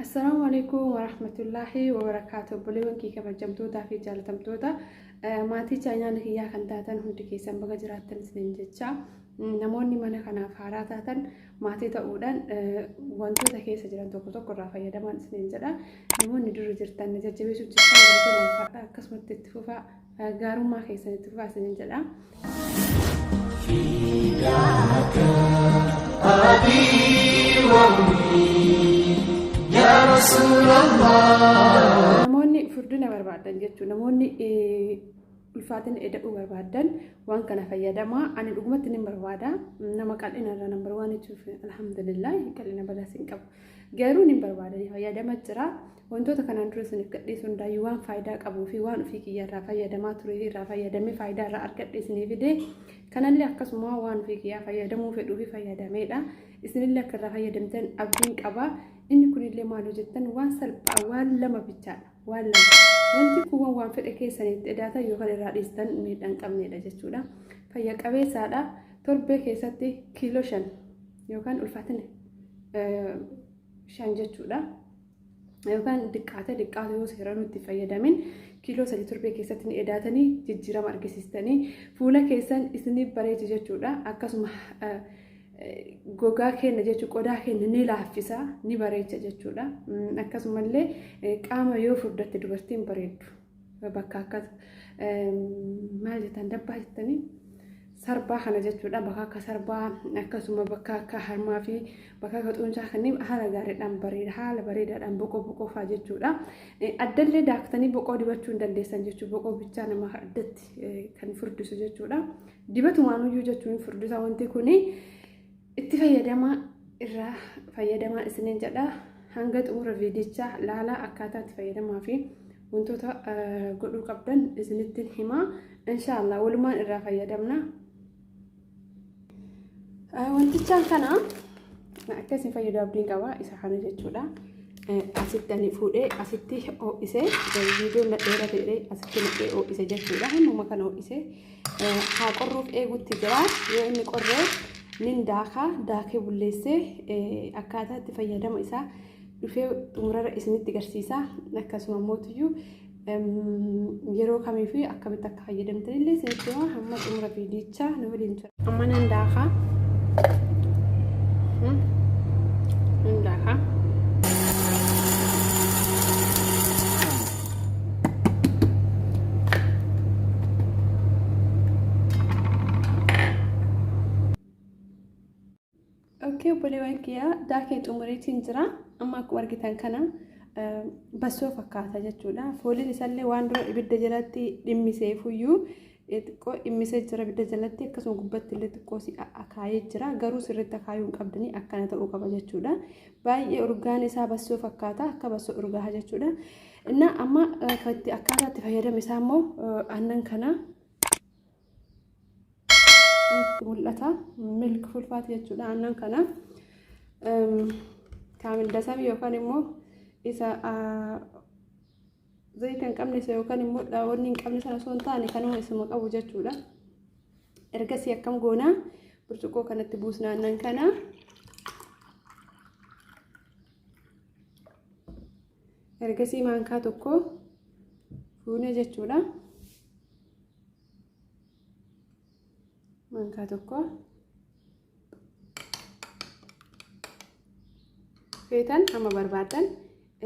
Assalaamu alaikum warahmatullaahi wabarakaatu obboleewwan kee kabajamtootaa fi jaalatamtoota maatii chaayinaala kiyyaa kan taatan hundi keessan baga jiraattan isiniin jecha namoonni mana kanaaf haaraa taatan maatii ta'uudhaan wantoota keessa jiran tokko tokko irraa fayyadamaan isiniin jedha namoonni dura jirtan jajjabeessuu jirtan akkasumatti itti fufaa gaarummaa keessan itti fufaa isinin jedha. Namoonni furdina barbaadan jechuun namoonni ulfaatina eda'uu barbaadan waan kana fayyadamaa ani dhugumatti ni barbaada nama qal'ina irra nambar waan jechuuf alhamdulillah qal'ina balaas hin qabu garuu ni barbaada fayyadama jira Wantoota kanaan dura isiniif gadhiisu hundaayyuu waan faayidaa qabuu fi waan ofii kiyya irraa fayyadamaa turee fi irraa fayyadamee faayidaa irraa argadhe isinii fidee kanallee akkasuma waan ofii kiyyaa fayyadamuu fedhuu fi fayyadameedha. Isinillee akka irraa fayyadamtan abdiin qaba. Inni kunillee maal hojjettan waan salphaa waan lama bichaadha. Waan lama. Wanti kuuwwan waan fedhe keessanitti edaatan yookaan irraa dhiistan miidhaa hin qabneedha jechuudha. Fayya qabeessaadha. Torbee keessatti kiiloo shan yookaan ulfaatina shan jechuudha. yookaan diqqaate diqqaate yoo seera nutti fayyadamin kiiloo sadii torbee keessatti ni edaatanii jijjiirama argisiistanii fuula keessan isinii bareecha jechuudha akkasuma gogaa keenya jechuun qodaa keenya ni laaffisa ni bareecha jechuudha akkasumallee qaama yoo furdatti dubartiin bareeddu. bakka akkas maal jettan dabbaa jettanii sarbaa kana jechuudha bakka akka sarbaa akkasuma bakka akka harmaa fi bakka akka xuuncaa kanneen haala gaariidhaan bareeda haala bareedaadhaan boqoo boqoo fa'aa jechuudha. Addallee daaktanii boqoo dibachuu hin dandeessan jechuudha boqoo bichaa nama addatti kan furdisu jechuudha. Dibatumaan iyyuu jechuun furdisa wanti kuni. itti fayyadamaa irraa fayyadamaa isiniin jedha hanga xumura viidichaa laalaa akkaataa itti fayyadamaa fi wantoota godhuu qabdan isinitti himaa inshaallah walumaan irraa fayyadamna wantichaan kana akka isin fayyadu abdiin qaba isa kana jechuudha asitti ani fuudhee asitti ho'isee viidiyoon na dheera ta'ee asitti naqee ho'ise jechuudha hammuma kana ho'isee haa qorruuf eegutti jira yoo inni qorree nin daaka daakee bulleessee akkaataa itti fayyadama isaa dhufee xumurarra isinitti garsiisa akkasuma mootiyyuu yeroo kamii fi akkamitti akka fayyadamtan illee isinitti hima hamma xumura viidiyichaa nu waliin jira. Amma nan daaka. Nan daaka. Okkee obboleewwan kiyyaa daakee xumuriitiin jira. Amma akkuma argitan kana bassoo fakkaata jechuudha. Fooliin isaallee waan dura ibidda jalatti dhimmisee fuyyuu xiqqoo dhimmisee jira ibidda jalatti akkasuma gubbatti illee xiqqoo si akaayee jira garuu sirriitti akaayuu hin qabdanii akkana ta'uu qaba jechuudha baay'ee urgaan isaa bassoo fakkaata akka bassoo urgaaha jechuudha innaa amma itti akkaataa itti fayyadame isaa immoo aannan kana mul'ata milk fulfaati jechuudha aannan kana kaamil dasam yookaan immoo isa Zayita hin qabne isa yookaan immoo dhaawwanni hin qabne sana osoo hin taane kanuma isuma qabu jechuudha. Ergasii akkam goona burcuqqoo kanatti buusna aannan kana. Ergasii maankaa tokko fuune jechuudha. Maankaa tokko. feetan amma barbaadan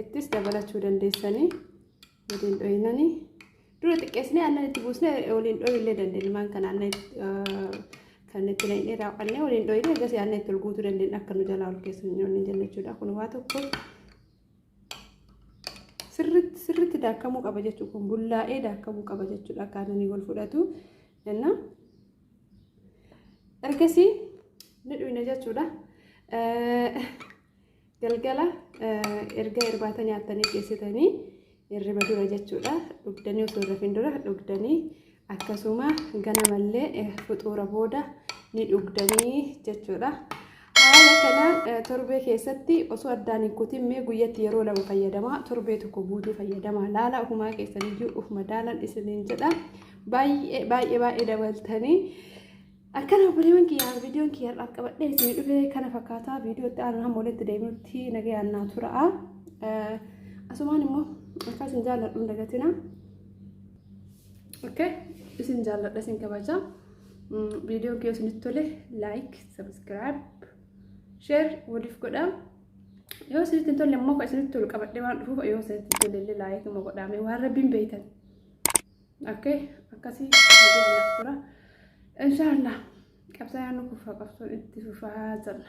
ittis dabalachuu dandeessanii waliin dhohinanii dura xiqqeessinee aannan itti buusnee waliin dhohillee dandeenya maan kan aannan kan itti naqnee raawwannee waliin dhohinee eegas aannan itti ol guutuu dandeenya akka nu jalaa ol keessa hin nyaanne jenna jechuudha kun waa tokko sirritti sirritti daakamuu qaba jechuudha kun bullaa'ee daakamuu qaba jechuudha akka aannanii wal fudhatu jenna ergasii ni dhuyna jechuudha galgala erga irbaata nyaattanii geessitanii irriba dura jechuudha dhugdanii osoo rafin dura dhugdanii akkasuma ganamallee fuxuura booda ni dhugdanii jechuudha. Haala kanaan torbee keessatti osoo addaan hin kutin mee guyyatti yeroo lama fayyadamaa torbee tokko guutuu fayyadamaa laala ofumaa keessaniyyuu uf madaalan isiniin jedha baay'ee baay'ee baay'ee dabaltanii akkana obboleewwan kiyyaa viidiyoon kiyya har'aaf qabadhee isinii dhufee kana fakkaataa viidiyoo itti aanaa hamma walitti deebinutti nagayaan naa tura'a asumaan immoo akkas hin jaalladhu hin dagatina okay isin jaalladha isin kabaja viidiyoon kiyya isinitti tole laayik subscribe share waliif godha yoo isinitti hin tolle immoo kan isinitti tolu qabadhee waan dhufuuf yoo isinitti hin tolle illee laayik immoo godhaame waan rabbiin beeytan akkee akkasii nagaadhaaf tura inshaallah qabsaa yaannu kufaa qabsoon itti fufaa jalla